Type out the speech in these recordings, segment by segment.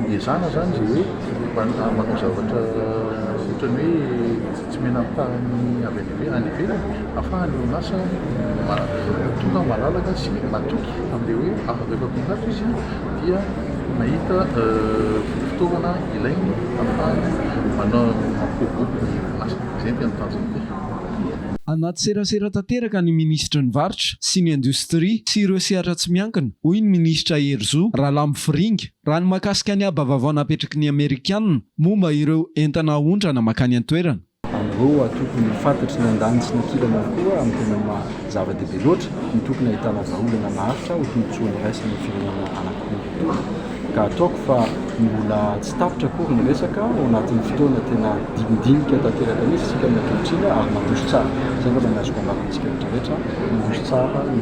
Iezahana izany izay hoe manao zavatra ohatran'ny hoe tsy mena ampahany avy any ivelany, any ivelany ahafahan'ny orinasa tonga malalaka sy matoky amin'ilay hoe afaka efa mpitafy izy dia mahita fitaovana ilainy ahafahany manao mampibobobo ny orinasany. Izay no tena tanjon'ilay. Anaty serasera tanteraka ny minisitry ny Varotra sy ny indostria sy ireo sehatra tsy miankina, hoy ny minisitra Herizo Ralamofiringa, raha ny mahakasika ny haba vaovao napetraky ny Amerikana momba ireo entana ahondrana mankany an-toerana. An'ireo antoko ny faritry ny andaniny sy ny ankilany ary koa amin'ny tena maha zava-dehibe loatra ny tokony hahitana vahaolana maharitra ho tombontsoan'ny iraisana ny firenena anankiroa. Gadraoko fa mbola tsy tapitra akory ny resaka ao anatin'ny fotoana tena dinindinika tanteraka mihitsy isika ny ankehitriny ary mandroso tsara. Izay angamba ny azoko ambara amintsika rehetra rehetra, mandroso tsara ny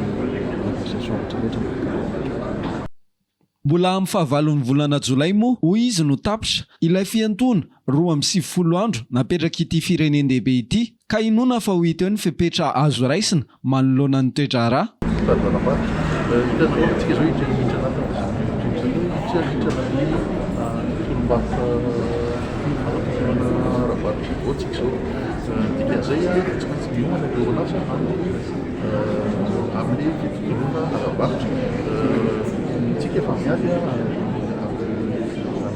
négociations rehetra rehetra miaraka amin'ireo. Mbola amin'ny fahavalon'ny volana jolay moa hoy izy no tapitra ilay fiantoana roa amby sivifolo andro napetrak'ity firenen-dehibe ity. Ka inoana fa ho hita eo ny fepetra azo raisina manoloana ny toe-draharaha.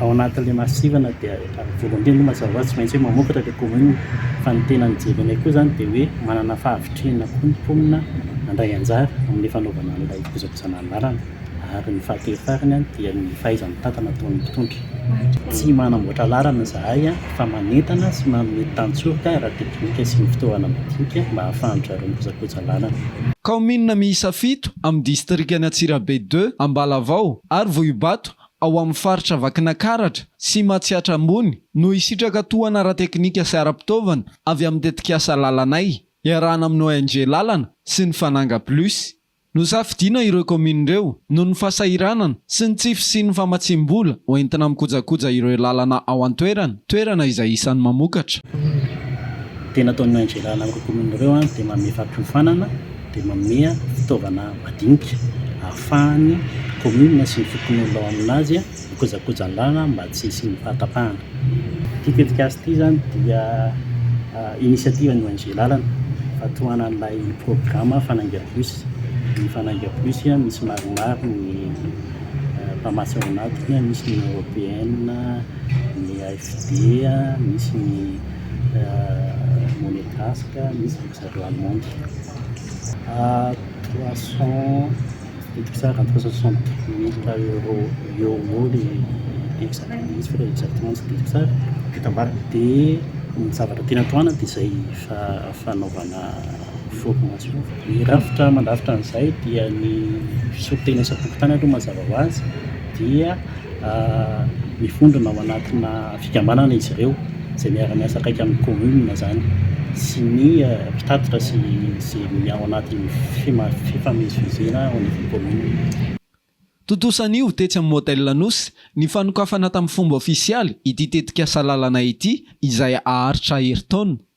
Ao anatin'ilay masivana dia voalohany indrindra aloha mazava ho azy tsy maintsy hoe mamokatra ilay kaominina fa ny tena nijery anay koa izany dia hoe manana fahavitrihana koa ny mponina handray anjara amin'ny fanaovana an'ilay fikojakojana ny lalana ary ny fahatelo farany dia ny fahaiza-mitantana ataon'ny mpitondra. Tsy manamboatra lalana izahay. fa manentana sy manome tantsoroka ara-teknika sy ny fitaovana madinika mba hahafahan-dry zareo mikojakoja lalana. Kaominina miisa fito amin'ny distrikan'i Antsirabe Deux, Ambalavao ary Vohibato ao amin'ny faritra Vakinankaratra sy Matsiatra Ambony no hisitraka tohana ara-teknika sy ara-pitaovana avy amin'ny tetikasa Lalanay, iarahana amin'ny ONG Lalana sy ny Fananga Plus. Nosafidiana ireo kaominina ireo noho ny fahasahiranana sy ny tsy fisian'ny famatsiam-bola ho entina mikojakoja ireo lalana ao an-toerana, toerana izay isan'ny mamokatra. Ny tena ataon'i Angela amin'ireo kaominina ireo dia manome fampiofanana, dia manome fitaovana madinika ahafahan'ny kaominina sy ny fokonolona ao aminazy ny kojakojan-dalana mba tsy hisian'ny fahatapahana. Ity tetikasa ity izany dia initiative ny ONG Lalana fa tohana an'ilay programa Fanainga Plus. Ny Fanainga Plus misy maromaro ny mpamatsy ao anatiny, misy ny Européenne, ny AFD, misy ny Monegasque, misy ny ry zareo Allemande. Trois cent Miditra tsara ny trois cent soixante mille euro eo ho eo le exact mihitsy fa le exactement tsy tadidiko tsara vita ambara de ny zavatra tiana tohanana de zay fanaovana formation ny rafitra mandrafitra an'izay dia ny fisorotena isam-pokontany aloha mazava ho azy dia mifondrona ao anatina fikambanana izy ireo izay miara-miasa akaiky amin'ny commune izany sy ny mpitatitra sy ny ao anatin'ny fifamezivezena ao anivon'ny commune. Tontosa anio, tetsy amin'ny Motel Anosy, ny fanokafana tamin'ny fomba ofisialy ity tetikasa lalana ity izay haharitra herintaona.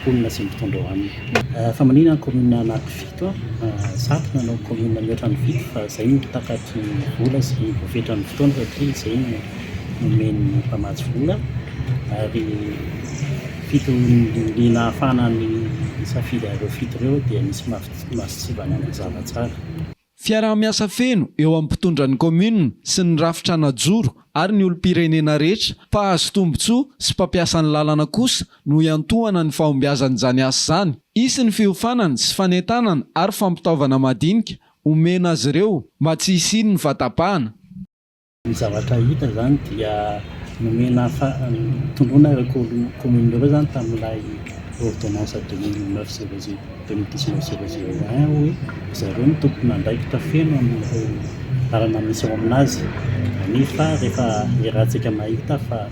mponina sy ny mpitondra ao aminy. Fa manina ny commune anaty fito a! Zato no hanao commune mihoatra ny fito fa izay no takatry ny vola sy ny voafetra ny fotoana satria izay no nomen'ny mpamatsy vola ary fito ny nahafahana nisafidy an'ireo fito ireo dia nisy masontsivana mazava tsara. Fiaraha-miasa feno eo amin'ny mpitondra ny kaominina sy ny rafitra hanajoro ary ny olom-pirenena rehetra mpahazo tombontsoa sy mpampiasa ny lalana kosa no hiantohana ny fahombiazan'izany asa izany. Hisy ny fiofanana sy fanentanana ary fampitaovana madinika homena azy ireo mba tsy hisian'ny fahatapahana. Ny zavatra hita izany dia nomena tondroina ireo kaominina ireo izany tamin'ilay ôrdônansa deux mille neuf zéro zéro deux mille dix neuf zéro zéro un hoe ry zareo no tompon'andraikitra feno amin'ireo lalana misy ao amin'azy, nefa rehefa iarahantsika mahita fa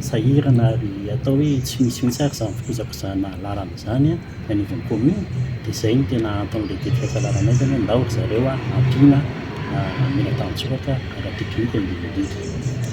Sahirana ary atao hoe tsy misy mihitsy ary izany fikojakojana lalana izany eny anivon'ny commune dia izay no tena antony lehibe fiakarananay izany hoe ndao ry zareo hampiana mila tanjoraka ara-teknika indrindra indrindra.